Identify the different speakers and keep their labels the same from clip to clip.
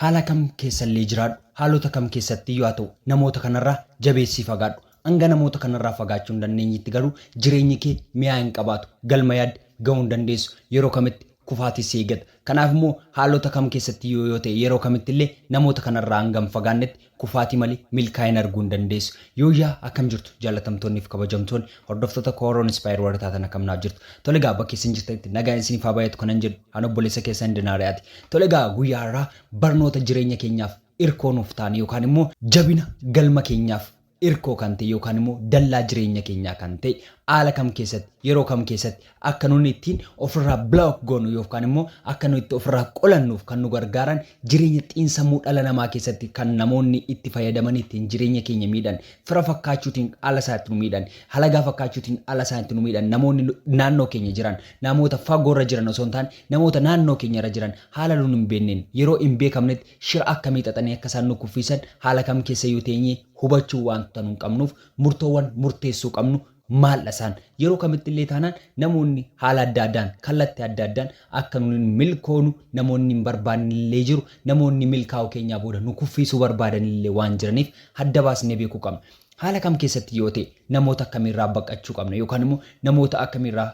Speaker 1: Haala kam keessallee jiraadhu, haalota kam keessattiyyuu haa ta'u, namoota kanarraa jabeessii fagaadhu. Hanga namoota kanarraa fagaachuu hin dandeenyetti garuu jireenyi kee mi'aa hin qabaatu. Galma yaadde ga'uu hin dandeessu. Yeroo kamitti kufaatis si eeggata. Kanaafimmoo haalota kam keessattiyyuu yoo ta'e, yeroo kamittillee namoota kanarraa hanga hin fagaannetti Kufaatii malee milkaa'ina arguu hin dandeessu. Yooyyaa akkam jirtu jaalatamtoonni fi kabajamtoonni hordoftoota Kooroo Inspire warri taatan akkam naaf jirtu. Tole egaa bakka isin jirtanitti nagaan isiniif haa baay'atu kanan jedhu an obboleessa keessan Dinaariyaati. Tole egaa guyyaa har'aa barnoota jireenya keenyaaf irkoo nuuf taane yookaan immoo jabina galma keenyaaf irkoo kan ta'e yookaan immoo dallaa jireenya keenyaa kan ta'e haala kam keessatti yeroo kam keessatti Akka nun ittiin ofirraa block goonu yookaan immoo akka nu itti ofirraa qolannuuf kan nu gargaaran jireenya xiinsammuu dhala namaa keessatti kan namoonni itti fayyadamanii ittiin jireenya keenya miidhan, fira fakkaachuutiin haala isaa itti nu miidhan, halagaa fakkaachuutiin haala isaa itti nu miidhan, namoonni naannoo keenya jiran, namoota fagoo irra jiran osoo hin taane namoota naannoo keenya irra jiran haala nun hin beekneen, yeroo hin beekamnetti shira akkamii xaxanii akka isaan nu kuffiisan haala kam keessayyuu teenyee hubachuu waanta nun qabnuuf murtoowwan murteessuu qabnu Maaldha isaan? Yeroo kamitti illee taanaan namoonni haala adda addaan, kallatti adda addaan akka nun hin milkoonu namoonni hin barbaadne illee jiru, namoonni milkaa'uu keenyaa booda nu kuffiisuu barbaadan illee waan jiraniif adda baasnee beekuu qabna. Haala kam keessatti yoo ta'e namoota akkamii irraa baqqachuu qabna yookaan immoo namoota akkamii irraa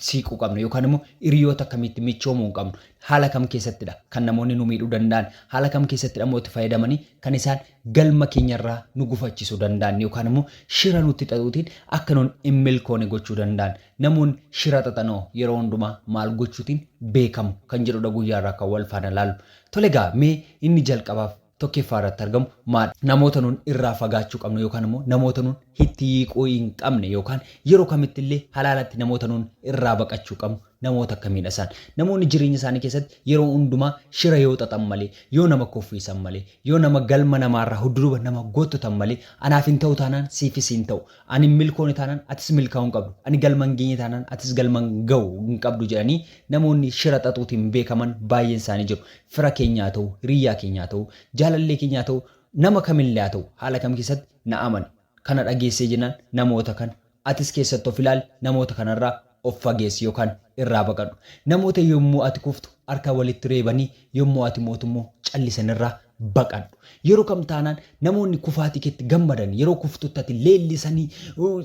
Speaker 1: siiquu qabnu yookaan immoo hiriyoota akkamiitti michoomuu qabnu? Haala kam keessattidha kan namoonni nu miidhuu danda'an? Haala kam keessattidha immoo itti fayyadamanii kan isaan galma keenyarraa nu gufachiisuu danda'an yookaan immoo shira nutti xaxuutiin akka nun hin milkoone gochuu danda'an? Namoonni shira xaxanoo yeroo hundumaa maal gochuutiin beekamu? Kan jedhudha guyyaarraa kan wal faana ilaallu. Tole egaa mee inni jalqabaaf tokkeeffaa irratti argamu maadha? Namoota nun irraa fagaachuu qabnu yookaan immoo namoota nun hitti yiiquu hin qabne yookaan yeroo kamitti illee halaalatti namoota nun irraa baqachuu qabnu namoota akkamiidha isaan? Namoonni jireenya isaanii keessatti yeroo hundumaa shira yoo xaxan malee, yoo nama kuffiisan malee, yoo nama galma namaa irraa hudduduba nama gottotan malee anaaf hin ta'u taanaan siifis hin ta'u, Ani hin milkoone taanaan atis milkaa'uu hin qabdu, ani galma hin geenye taanaan atis galma hin ga'u hin qabdu jedhanii namoonni shira xaxuutiin beekaman baay'een isaanii jiru. Fira keenya haa ta'u, hiriyyaa keenya haa ta'u, jaalallee keenya haa ta'u, nama kamillee haa ta'u haala kam keessatti na amani. Kana dhageessee jennaan namoota kana atis keessatti of ilaali namoota kanarraa Of fageessi yookaan irraa baqadhu. Namoota yommuu ati kuftu harka walitti reebanii yommuu ati mootu immoo callisan irraa baqadhu. Yeroo kam taanaan namoonni kufaatii keetti gammadan, yeroo kuftutti ati leellisanii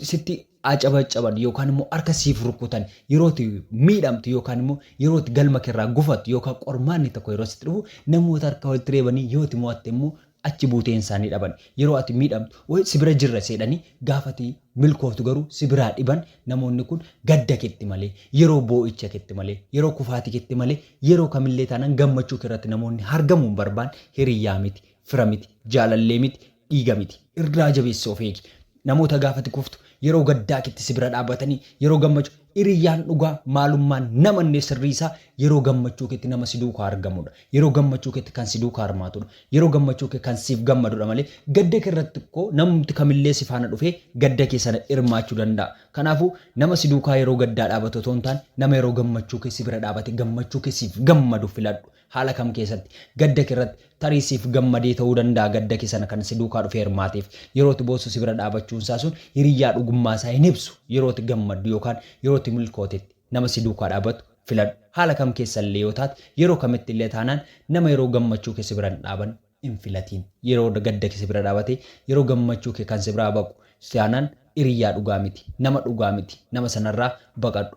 Speaker 1: sitti acabaccaban yookaan immoo harka siif rukkutan, yeroo ati miidhamtu yookaan immoo yeroo ati galma kee irraa gufattu yookaan qormaanni tokko yeroo sitti dhufu namoota harka walitti reebanii yoo ati mo'atte immoo achi buuteen isaanii dhaban yeroo ati miidhamtu woy si bira jirra seedhanii gaafa ati milkooftu garuu si biraa dhiban namoonni kun gadda ketti malee yeroo boo'icha ketti malee yeroo kufaati ketti malee yeroo kamillee taanan gammachuu kerratti namoonni hargamuu hin barbaan hiriyyaa miti fira miti jaalallee miti dhiiga miti irraa jabeessi of eegi Namoota gaafa ati kuftu, yeroo gaddaa keetti si bira dhaabatanii, yeroo gammachu, Hiriyyaan dhugaa maalummaan nama innee sirrii isaa yeroo gammachuu keetti nama si duukaa argamudha. Yeroo gammachuu keetti kan si duukaa hirmaatudha. Yeroo gammachuu kee kan siif gammadudha malee gadda kee irratti kko namumti kamillee si faana dhufee gadda kee sana hirmaachuu danda'a. Kanaafuu, nama si duukaa yeroo gaddaa dhaabatu otoo hin taane nama yeroo gammachuu kee si bira dhaabate gammachuu kee siif gammadu filadhu. Haala kam keessatti? Gadda kee irratti. Tarii siif gammadee ta'uu danda'a gadda kee sana kan si duukaa dhufee hirmaateef. Yeroo ati boossu si bira dhaabachuun isaa sun hiriyyaa dhugummaa isaa hin ibsu. Yeroo ati gammaddu yookaan yeroo ati milkootetti nama si duukaa dhaabatu filadhu. Haala kam keessa illee yoo taate, yeroo kamitti illee taanaan nama yeroo gammachuu kee si bira hin dhaabanne hin filatiin. Yeroo gadda kee si bira dhaabatee yeroo gammachuu kee kan si biraa baqu taanaan hiriyyaa dhugaa miti. Nama dhugaa miti. Nama sana irraa baqadhu.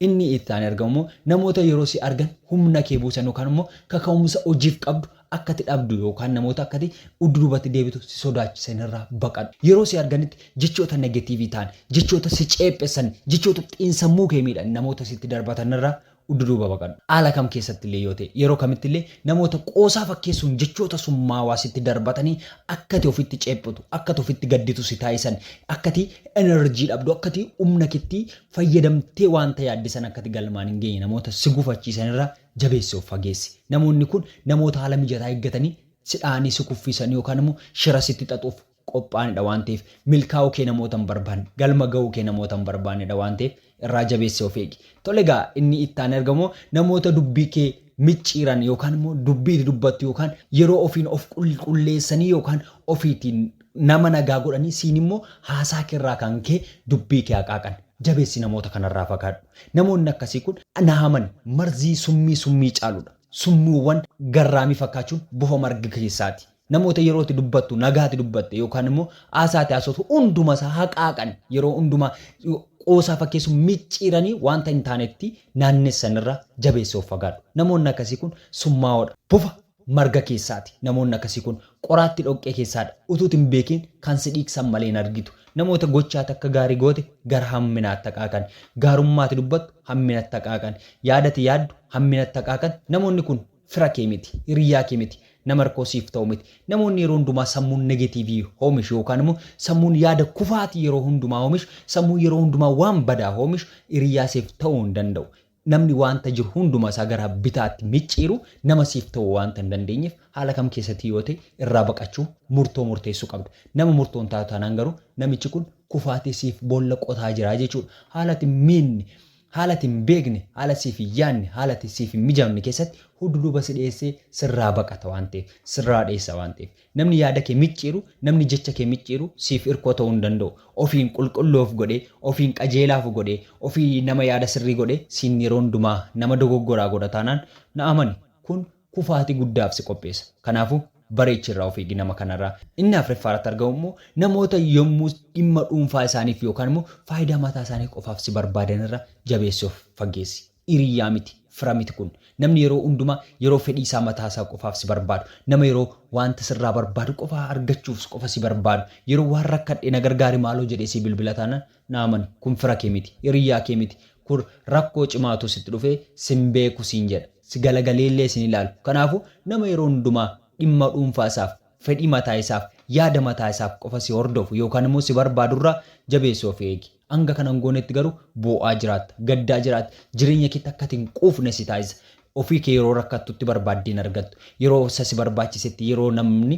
Speaker 1: Inni itti aanee argamu immoo namoota yeroo si argan humna kee buusan yookaan immoo kaka'umsa hojiif qabdu akka ati dhabdu yookaan namoota akka ati udduubatti deebitu si sodaachisan irraa baqadhu. Yeroo si arganitti jechoota negetiivii ta'an, jechoota si ceephessan, jechoota xiinsammuu kee miidhan namoota sitti darbatan irraa udduduuba baqadhu. Haala kam keessatti illee yoo ta'e, yeroo kamitti illee namoota qoosaa fakkeessuun jechoota summaawaa sitti darbatanii akka ati ofitti ceephotu, akka ati ofitti gadditu si taasisan, akka ati energy dhabdu, akka ati humna keetti fayyadamtee wanta yaadde sana akka ati galmaan hin geenye namoota si gufachiisan irraa jabeessi of fageessi. Namoonni kun namoota haala mijataa eeggatanii si dha'anii si kuffisan yookaan immoo shira sitti xaxuuf qophaa'anidha waan ta'eef milkaa'uu kee namoota hin barbaanne, galma gahuu kee namoota hin barbaannedha waan ta'eef irraa jabeessi of eegi. Tole egaa inni itti aanee argamu immoo namoota dubbii kee. micciiran yookaan immoo dubbii itti dubbattu yookaan yeroo ofiin of qulqulleessanii yookaan ofiitiin nama nagaa godhanii siin immoo haasaa kee irraa kan ka'e dubbii kee haqaaqan. Jabeessi namoota kana irraa fagaadhu. Namoonni akkasii kun na amani marzii summii summii caaludha. Summiiwwan garraamii fakkaachuun bofa marga keessaati. Namoota yeroo ati dubbattu nagaa ati dubbatte yookaan immoo haasaa ati haasoftu hunduma isaa haqaaqan yeroo hundumaa qoosaa fakkeessuun micciiranii wanta hin taanetti naannessan irraa jabeessi of fagaadhu. Namoonni akkasii kun summaa'oodha. Bofa marga keessaati. Namoonni akkasii kun qoraatti dhoqqee keessaadha. Utuuti hin beekiin kan si dhiigsan malee hin argitu. Namoota gochaa ati akka gaarii goote gara hamminaatti haqaaqan. Gaarummaa ati dubbattu hamminatti haqaaqan. Yaada ati yaaddu hamminatti haqaaqan. Namoonni kun fira kee miti, hiriyyaa kee miti, nama rakkoo siif ta'u miti. Namoonni yeroo hundumaa sammuun negatiivii hoomishu yookaan immoo sammuun yaada kufaatii yeroo hundumaa hoomishu, sammuun yeroo hundumaa waan badaa hoomishu hiriyyaa siif ta'uu hin danda'u. Namni waanta jiru hunduma isaa gara bitaatti micciiru nama siif ta'uu waanta hin dandeenyeef haala kam keessatti yoo ta'e irraa baqachuu murtoo murteessuu qabda. Nama murtoo hin taatu taanaan garuu namichi kun kufaatii siif boolla qotaa jira jechuudha. Haala ati miinni Haala ati hin beekne, haala siif hin yaadne, haala ati siif hin mijaamne keessatti hudduduuba si dheessee sirraa baqata waan ta'eef, sirraa dheessa waan ta'eef. Namni yaada kee micciiru, namni jecha kee micciiru siif irkoo ta'uu hin danda'u. Ofiin qulqulluu of godhee, ofiin qajeelaa of godhee, ofii nama yaada sirrii godhee siin yeroo hundumaa nama dogoggoraa godha taanaan na amani kun kufaatii guddaaf si qopheessa. Kanaafuu, bareechi irraa of eegi nama kanarraa. Inni afreeffaa irratti argamu immoo namoota yommuu dhimma dhuunfaa isaaniif yookaan immoo faayidaa mataa isaanii qofaaf si barbaadan irraa jabeessii of faggeessi. Hiriyyaa miti, fira miti kun. Namni yeroo hundumaa yeroo fedhii isaa mataa isaa qofaaf si barbaadu, nama yeroo wanta sirraa barbaadu qofa argachuuf qofa si barbaadu, yeroo waan rakkadhe na gargaari maaloo jedhee sii bilbila taanaan, Na amani, kun fira kee miti, hiriyyaa kee miti, kun rakkoo cimaatu sitti dhufe, sin beeku siin jedha. Si galagaleellee sin ilaalu. Kanaafuu, nama yeroo hundumaa dhimma dhuunfaa isaaf, fedhii mataa isaaf, yaada mataa isaaf qofa si hordofu yookaan immoo si barbaadu irraa jabeessi of eegi. Hanga kana hin goonetti garuu boo'aa jiraatta, gaddaa jiraatta, jireenya keetti akka ati hin quufne si taasisa. Ofii kee yeroo rakkattutti barbaaddee hin argattu. Yeroo isa si barbaachisetti, yeroo namni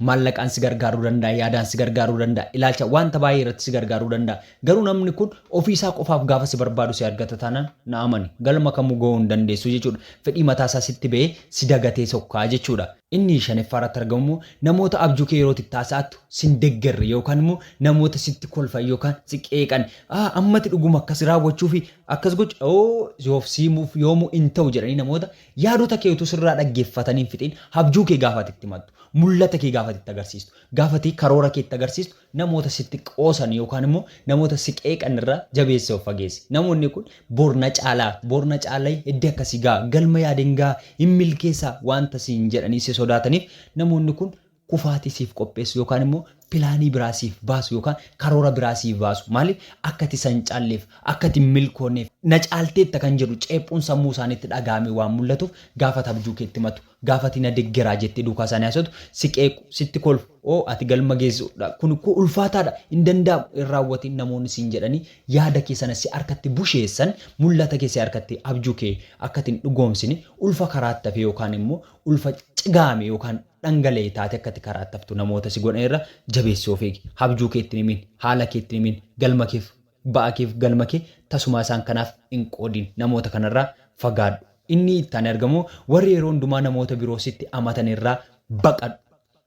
Speaker 1: maallaqaan si gargaaruu danda'a, yaadaan si gargaaruu danda'a, ilaalcha wanta baay'ee irratti si gargaaruu danda'a. Garuu namni kun ofii isaa qofaaf gaafa si barbaadu si argata taanaan na amani galma kamuu ga'uu hin dandeessu jechuudha. Fedhii mataa isaa sitti ba'ee si dagatee sokkaa jechuudha. Inni shanaffaa irratti argamu immoo namoota abjuu kee yeroo itti taasa'attu sin deggerre yookaan immoo namoota sitti kolfan yookaan si qeeqan ah ammati dhuguma akkas raawwachuu fi akkas gochu oo yoof siimuuf yoomuu in ta'u jedhanii namoota yaadota kee utuu sirraa dhaggeeffatanii hin fixin abjuu kee gaafa ati itti himattu mul'ata kee gaafa ati itti agarsiistu gaafa ati karoora kee itti agarsiistu Namoota sitti qoosan yookaan immoo namoota si qeeqan irraa jabeessii of fageessi. Namoonni kun bor na caalaa, bor na caalai eddi akkasi ga'a, galma yaaden ga'a, hin milkeessa waanta siin jedhanii si sodaataniif namoonni kun kufaatii siif qopheessu yookaan immoo pilaanii biraa siif baasu yookaan karoora biraa siif baasu. Maaliif? Akka ati isa hin caalleef, akka ati hin milkoonneef. Na caalteetta kan jedhu ceephuun sammuu isaaniitti dhaga'amee waan mul'atuuf gaafa ati abjuu keetti himatu Gaafa ati na deggeraa jettee duukaa isaanii haasoftu, si qeequ, sitti kolfu, oo ati galma geessu dha, kun koo ulfaataa dha, hin danda'amu, hin raawwatin namoonni siin jedhanii yaada kee sana si harkatti busheessan, mul'ata kee si harkatti, abjuu kee akka ati hin dhugoomsine, ulfa karaatti hafe yookaan immoo ulfa cigaame yookaan dhangala'e taatee akka ati karaatti haftu namoota si godhan irraa jabeessii of eegi. Habjuu kee itti hin himin, haala kee itti hin himin, galma keef. Ba'a keef galma kee tasumaa isaan kanaaf hin qoodin. Namoota kanarraa fagaadhu. Inni itti aanee argamu, Warri yeroo hundumaa namoota biroo sitti amatan irraa baqadhu.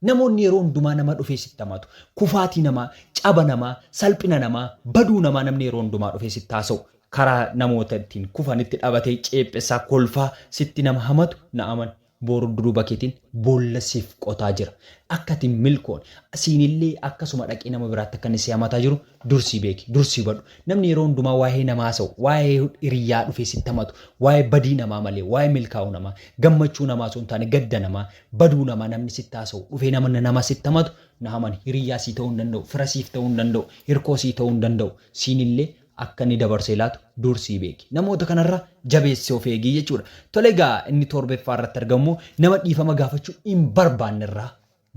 Speaker 1: Namoonni yeroo hundumaa nama dhufee sitti amatu. Kufaatii namaa, caba namaa, salphina namaa, baduu namaa namni yeroo hundumaa dhufee sitti haasa'u. Karaa namoota ittiin kufanitti dhabatee ceephessaa, kolfaa sitti nama hamatu na amani. Boru duruba ketin bolla sif qotaa jira akka ati hin milkoone siinillee akkasuma dhaqii nama biraatti akka inni si hamataa jiru dursii beeki dursii hubadhu namni yeroo hundumaa waa'ee namaa haasa'u waa'ee hiriyyaa dhufee sitti hamatu waa'ee badii namaa malee waa'ee milkaa'uu namaa gammachuu namaa osoo hin taane gadda namaa baduu namaa namni sitti haasa'u dhufee nama nama sitti hamatu na amani hiriyyaa sii ta'uu hin danda'u fira siif ta'uu hin danda'u hirkoo sii ta'uu hin danda'u siinillee akka inni dabarsee laatu dursii beeki. Namoota kanarra jabeessi of eegi jechuudha. Tole egaa inni toorbeffaa irratti argamu immoo nama dhiifama gaafachuu hin barbaanne irraa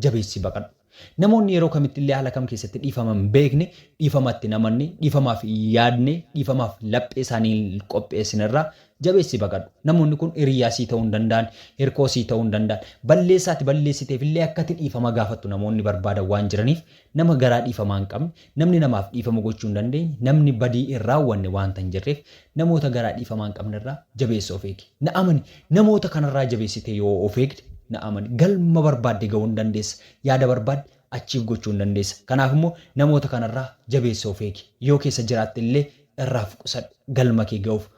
Speaker 1: jabeessi baqadhu. Namoonni yeroo kamitti illee haala kam keessatti dhiifama hin beekne, dhiifama itti hin amanne, dhiifamaaf hin yaadne, dhiifamaaf laphee isaanii hin qopheessine irraa jabeessi baqadhu. Namoonni kun hiriyyaa sii ta'uu hin danda'an, hirkoo sii ta'uu hin danda'an. Balleessaa ati balleessiteef illee akka ati dhiifama gaafattu namoonni barbaadan waan jiraniif Nama garaa dhiifamaa hin qabne, namni namaaf dhiifama gochuu hin dandeenye, namni badii hin raawwanne waanta hin jirreef, namoota garaa dhiifamaa hin qabne irraa jabeessa of eegi. Na amani! Namoota kana irraa jabeessitee yoo of eegde, na amani, galma barbaadde ga'uu ni dandeessa, yaada barbaadde achieve gochuu ni dandeessa. Kanaaf immoo namoota kana irraa jabeessa of eegi. Yoo keessa jiraatte illee irraa of qusadhu, galma kee ga'uuf.